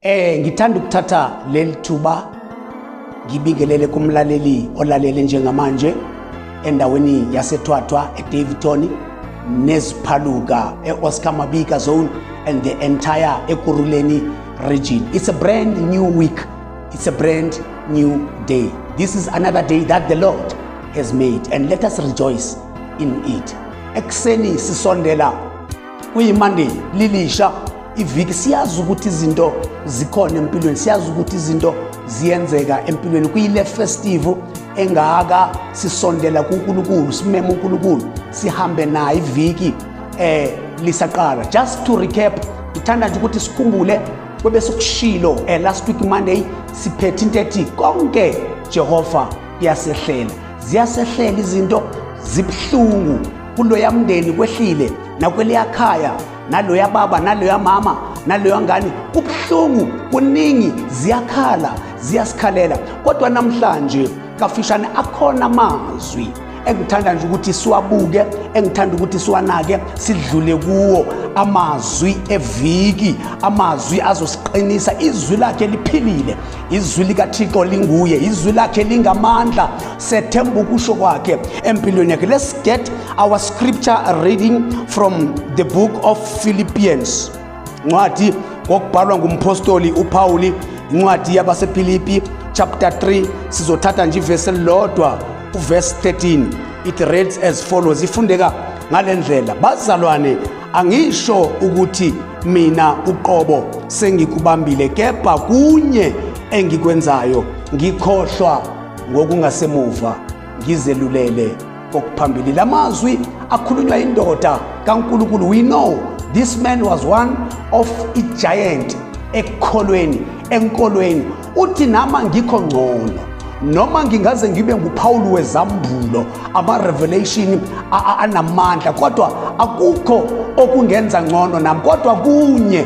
Eh ngithanda ukuthatha leli thuba ngibingelele kumlaleli olalele njengamanje endaweni yaseThwathwa eDaveyton neziphaluka eOscar Mabika zone and the entire eKuruleni region. It's a brand new week. It's a brand new day. This is another day that the Lord has made and let us rejoice in it. Ekseni sisondela kuyimonday lilisha iviki siyazi ukuthi izinto zikhona empilweni siyazi ukuthi izinto ziyenzeka empilweni kuyile festival engaka sisondela kuNkulunkulu simema uNkulunkulu sihambe naye iviki eh lisaqala just to recap ngithanda nje ukuthi sikhumbule kwebe sokushilo eh, last week monday siphethe into ethi konke jehova kuyasehlela ziyasehlela izinto zibuhlungu kuloya mndeni kwehlile nakweliya khaya naloya baba naloya mama naloya ngane kubuhlungu kuningi ziyakhala ziyasikhalela kodwa namhlanje kafishane akhona amazwi engithanda nje ukuthi siwabuke engithanda ukuthi siwanake sidlule kuwo amazwi eviki amazwi azosiqinisa izwi lakhe liphilile izwi likathixo linguye izwi lakhe lingamandla sethemba ukusho kwakhe empilweni yakhe let's get our scripture reading from the book of philippians ncwadi ngokubhalwa ngumpostoli upawuli incwadi yabasefilipi chapter 3 sizothatha nje ivesi elilodwa uverse 13 it reads as follows ifundeka ngale ndlela bazalwane angisho ukuthi mina uqobo sengikubambile kepha kunye engikwenzayo ngikhohlwa ngokungasemuva ngizelulele kokuphambili la mazwi akhulunywa indoda kaNkulunkulu we know this man was one of a giant ekukholweni enkolweni Uthi nama ngikho ngcono noma ngingaze ngibe nguPawulu wezambulo ama-revelation anamandla kodwa akukho okungenza ngcono nami kodwa kunye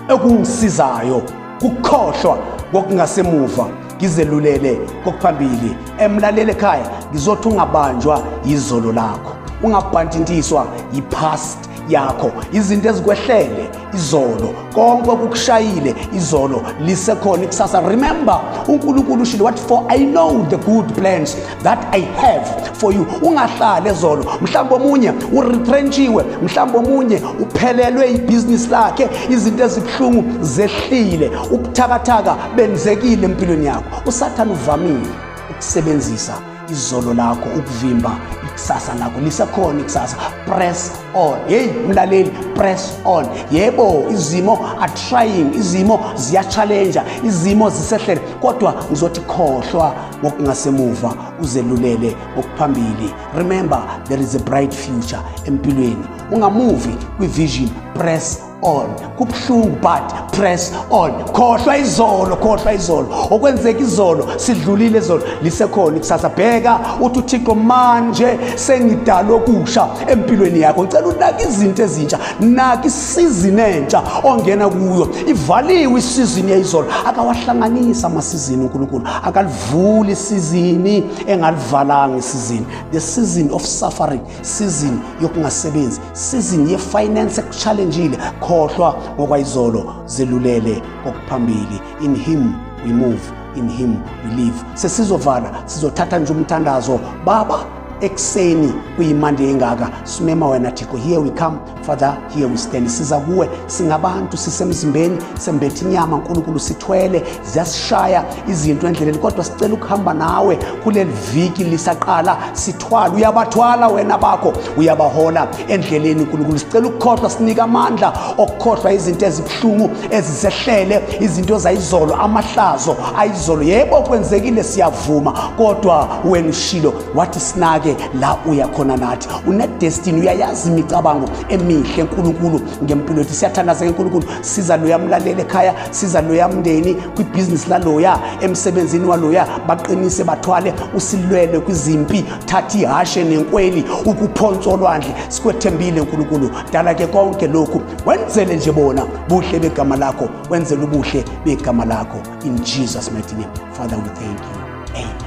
okungisizayo kukhohlwa kokungasemuva ngizelulele kokuphambili emlalele ekhaya ngizothi ungabanjwa yizolo lakho ungabhantintiswa yi-past yakho izinto ezikwehlele izolo konke okukushayile izolo lisekhona ikusasa remember uNkulunkulu ushilo wathi for i know the good plans that i have for you ungahlali ezolo mhlawumbe omunye uretrenchiwe mhlawumbe omunye uphelelwe ibhizinisi lakhe izinto ezibuhlungu zehlile ubuthakathaka benzekile empilweni yakho usathane uvamile ukusebenzisa izolo lakho ukuvimba ikusasa lakho lisekhona ikusasa press on hey mlaleli press on yebo izimo are trying izimo ziya-challenge izimo zisehlele kodwa ngizothi khohlwa ngokungasemuva uzelulele ngokuphambili remember there is a bright future empilweni ungamuvi kwi-vision press on kubuhlungu but press on khohlwa izolo khohlwa izolo okwenzeka izolo sidlulile izolo lisekhona ikusasa bheka uthi uthixo manje sengidalwe okusha empilweni yakho ngicela unake izinto ezintsha nake isizini entsha ongena kuyo ivaliwe isizini yayizolo akawahlanganisa amasizini unkulunkulu akalivuli isizini engalivalanga isizini the season of suffering sizini yokungasebenzi sizini yefinance ekuchallenjile khohlwa ngokwayizolo zelulele kokuphambili in him we move in him we live sesizovala sizothatha nje umthandazo baba ekuseni kuyimande engaka simema wena thixo here we come Father, here we stand. Siza kuwe singabantu sisemzimbeni sembethi inyama uNkulunkulu sithwele ziyasishaya izinto endleleni kodwa sicela ukuhamba nawe kuleli viki lisaqala sithwala uyabathwala wena bakho uyabahola endleleni uNkulunkulu sicela ukukhohlwa sinika amandla okukhohlwa izinto ezibuhlungu ezisehlele izinto zayizolo amahlazo ayizolo yebo kwenzekile siyavuma kodwa wena ushilo wathi sinake la uya khona nathi unedestiny uyayazi imicabango emihle nkulunkulu ngempilo yethu siyathandazeka nkulunkulu siza loya mlaleli ekhaya siza loya mndeni kwibhizinisi laloya emsebenzini waloya baqinise bathwale usilwele kwizimpi thatha ihashe nenkweli ukuphonsa olwandle sikwethembile nkulunkulu dala ke konke lokhu wenzele nje bona buhle begama lakho wenzele ubuhle begama lakho in jesus mighty name father we thank you